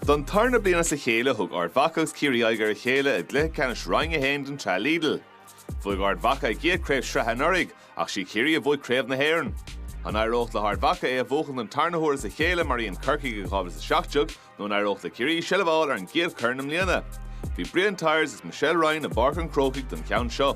Don tarna bliain as a chéile thug Ard Mhacha agus Ciarraí aghaidh ar a chéile i gcluiche ceannais Roinn 1 den tsraith Lidl. Bhuaigh Ard Mhacha a gcéad chraobh sraithe anuraidh ach sí Ciarraí a bhuaigh craobh na hÉireann. An éireodh le hArd Mhacha é a bhuachan don tarna huair as a chéile mar a dhein Corcaigh i 2017 nó an éireodh le Ciarraí seilbh a fháil ar an gcéad chorn i mbliana? Bhí Brian Tyers agus Michelle Ryan i bPáirc an Chrócaigh don cheann seo.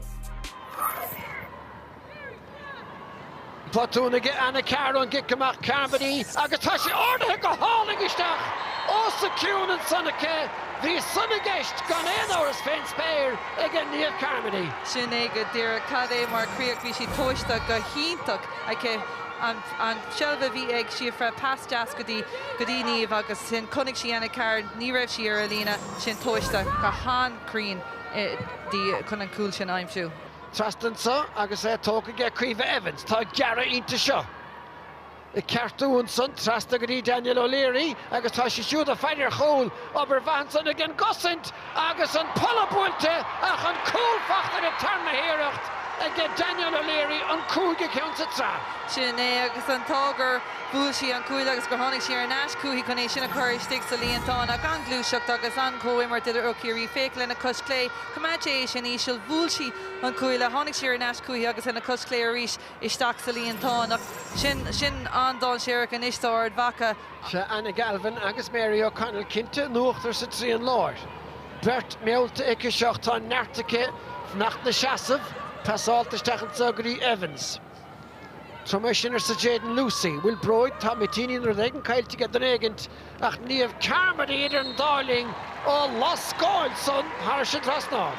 Botún aige Anna Carr ón gcic amach Carmody agus tá sé ardaithe go hálainn isteach os a cionn ansan aici. Bhí san i gceist gan aon amhras fén spéir aige Niamh Carmody. Sin é go díreach cad é mar chríoch. Bhí sí tomhaiste go hiontach aici. An tseilbh a bhí ag Síofra, pas deas go dtí go dtí Niamh agus ansin chonaic sí Anna Carr, ní raibh sí ar a líne, sin tomhaiste go han-chruinn di chun an cúl sin a aimsiú. Trasna anseo agus é tógtha aige Caoimhe Evans, tá gearradh inti seo. Ag ceartú ansan, trasna go dtí Danielle O'Leary agus tá sí siúd ag faire ar chúl. Obair mhaith ansan ag an gcosaint agus an polla buailte ach an cúl faighte ar an tarna hiarracht aige Danielle O'Leary, an cúigiú ceann sa tsraith. Sin é agus an t-ádh gur bhuail sí an cuaille agus gur tháinig sí ar ais chúithi chun é sin a chur istigh sa líontán. Ach an-ghluaiseacht agus an-chomhimirt idir ó Chiarraí, féach lena cois chlé, Choimeád sí é sin íseal. Bhuail sí an cuaille. Tháinig sí ar ais chúichi agus lena cois chlé arís isteach sa líontán. Ach sin sin, an-dáinséarach anois d'Ard Mhacha. Sea, Anna Galvin agus Mary O'Connell cinnte in uachtar sa trian láir. Beirt meallta aicise ach tá neart aici fanacht ina seasamh, passáilte isteach anseo go dtí Evans. Tabhair dom é sin, arsa Jadyn Lucey. Bhuel, bróig, tá mitíní nó rud éigin caillte aige duine éigint, ach Niamh Carmody idir an dá linn á lascáil san thar an trasnán.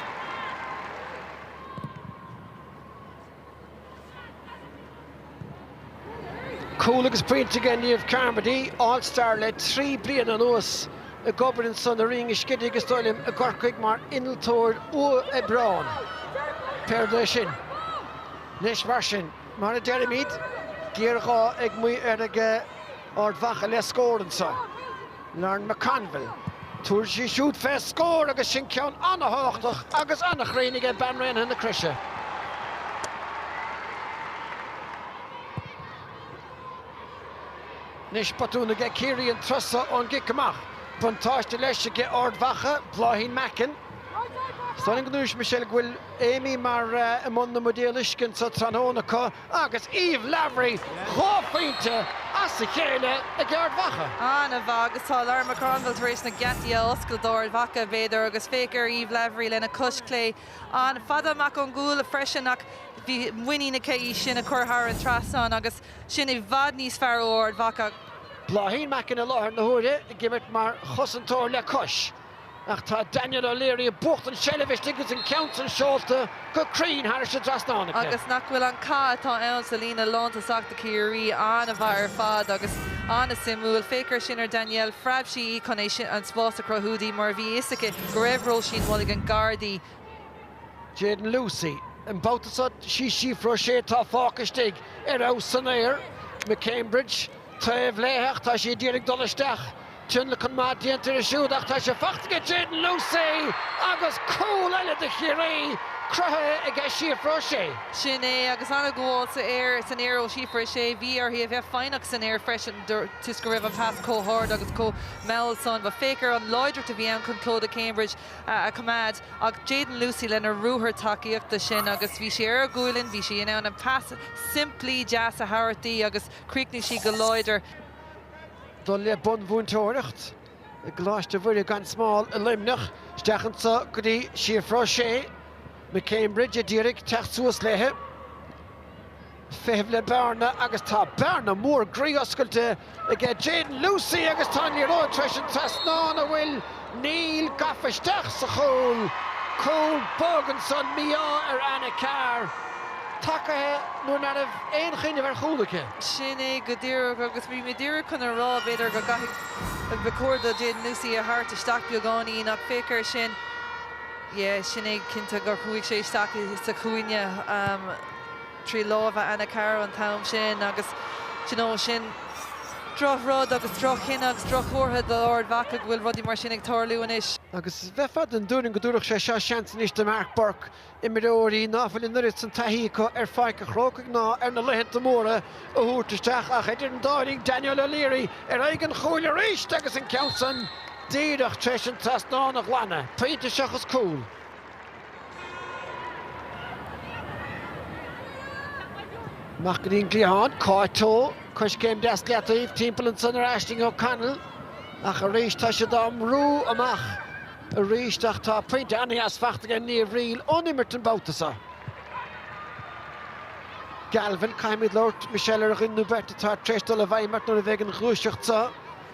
Cúl agus pointe aige Niamh Carmody, All Star le trí bliana anuas, ag obair ansan i Rinn an Scidígh is dóigh liom i gCorcaigh mar innealtóir uathoibreán. Pé rud é sin. Anois mar sin, mar a deirimid, géarghá ag Maigh aige Ard Mhacha le scór anseo. Lauren McConville, tabharfaidh sí siúd fé scór agus sin ceann an-thábhachtach agus an-chruinn aige bean Raonaithe na Croise. Anois botún aige Ciarraí an turas so ón gcic amach. Buntáiste leis aige Ard Mhacha, Bláithín Mackin. Is dóigh liom go ndúirt Michelle go bhfuil. Aimee Marr i mbun na mbuidéal uisce anso tráthnóna acu agus Eve Lavery dhá phointe as a chéile ag Ard Mhacha. An-mhaith agus tá Lauren McConville tar éis na geataí a oscailt d'Ard Mhacha, b'fhéidir, agus féach ar Eve Lavery lena cois chlé an-fhada amach ón gcúl freisin ach bhí muinín aici í sin a chur thar an trasnán agus sin i bhfad níos fearr ó Ard Mhacha. Bláithín Mackin i láthair na huaire ag imirt mar chosantóir le cois. Ach tá Danielle O'Leary ag buachtaint an tseilbh istigh agus an ceann san seolta go cruinn thairis an dtrasnán aici. Agus nach bhfuil an cath atá ann sa líne lántosachta Ciarraí an-mhaith ar fad agus an-suimiúil. Féach ar sin ar Danielle. Phreab sí í chun é sin, an spás a chruthú di mar bhí fhios aici go raibh Róisín Mulligan gar di. Jadyn Lucey. An babhta seo sí Síofra O'Shea atá fágtha istigh. Ar fheabhas san aer. McCambridge taobh léi ach tá sí a d'iarraidh dul isteach. Tionlacan maith déanta air siúd ach tá sé faighte aige Jadyn Lucey agus cúl eile do Chiarraí cruthaithe aige Síofra O'Shea. Sin é agus an-ghabháil san aer san aer ó Shíofra O'Shea. Bhí uirthi a bheith foighneach san aer freisin toisc go raibh an pas chomh hard agus chomh mall san. But féach ar an láidreacht a bhí ann chun Clodagh Cambridge a choimeád ach Jadyn Lucey lena ruathar tacaíochta sin agus bhí sí ar a gualainn, bhí sí in ann an pas simplí deas a thabhairt di agus chríochnaigh sí go láidir. dul le bunmhúinteoireacht i gColáiste Mhuire gan Smál i Luimneach, isteach anseo go dtí Síofra O'Shea, McCambridge, a d'iarraidh teacht suas léi. Feitheamh le bearna agus tá bearna mór groí oscailte aige Jadyn Lucey agus tá an liathróid tar éis an trasnán a bhual Níl, gafa isteach sa chúl, cúl bog ansan, mí-ádh ar Anna Carr, tagaithe nuair ná raibh aon chuimhneamh ar chúl aici. Sin é go díreach, agus bhí mé díreach chun a rá, b'fhéidir go gcaithfidh, ba chóir do Jadyn Lucey a thabhairt isteach beagáinín, ach féach ar sin, yeah, sin é cinnte gur chuaigh sé isteach sa chúinne. trí lámha Anna Carr an t-am sin agus d'you know sin droch-rud agus droch-chinneadh agus droch-chomhartha d'Ard Mhacha go bhfuil rudaí mar sin ag tarlú anois. Agus bheifeá den dtuairim go dtabharfadh sé seo seans anois do Mark Bourke imreoirí ná fuil an oiread san taithí acu ar Pháirc an Chrócaigh ná ar na laethanta móra a thabhairt isteach ach idir an dá linn Danielle O'Leary ar aghaidh an chúil arís agus an ceann san díreach tar éis an trasnán a ghlanadh, pointe seachas cúl. Amach go dtí an gcliathán, Cáit Towe, coiscéim deas i leataobh, timpeall ansan ar Aishling O'Connell, ach arís tá siad á mbrú amach arís ach tá pointe an-deas faighte ag Niamh Reel ón imirt an babhta seo. Galvin, caithfimid labhairt, Michelle, ar dhuine nó beirt atá tar éis dul i bhfeidhm ort nuair a bheidh an ghluaiseacht seo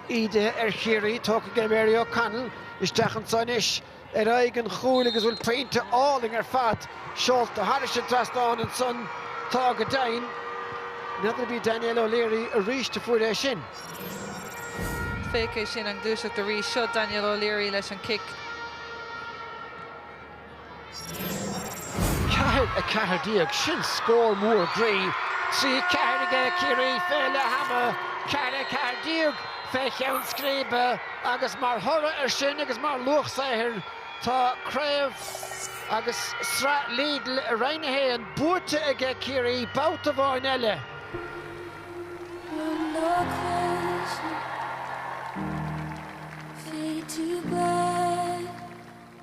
ídithe ar Chiarraí, tógtha aige Mary O'Connell isteach anso anois. ar aghaidh an chúil agus bhuel pointe álainn ar fad seolta thairis an trasnán ansan tá go deimhin n'fheadar b'í Danielle O'Leary aríst a fuair é sin. féach é sin an ghluaiseacht arís seo Danielle O'Leary leis an cic. 4, 14, sin scór mór groí, 3, 4 aige Ciarraí fé leath-am, 4, 14 fé cheann scríbe. agus mar thoradh ar sin agus mar luach saothair tá craobh agus sraith Lidl i Roinn 1 buaite aige Ciarraí babhta amháin eile.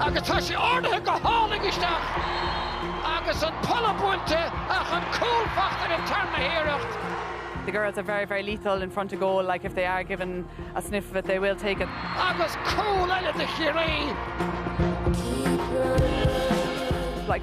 Agus tá sé ardaithe go hálainn isteach agus an polla buailte ach an cúl faighte ar an tarna hiarracht. The girls are very, very lethal in front of goal, like if they are given a sniff of it they will take it. Agus cúl eile do Chiarraí. Like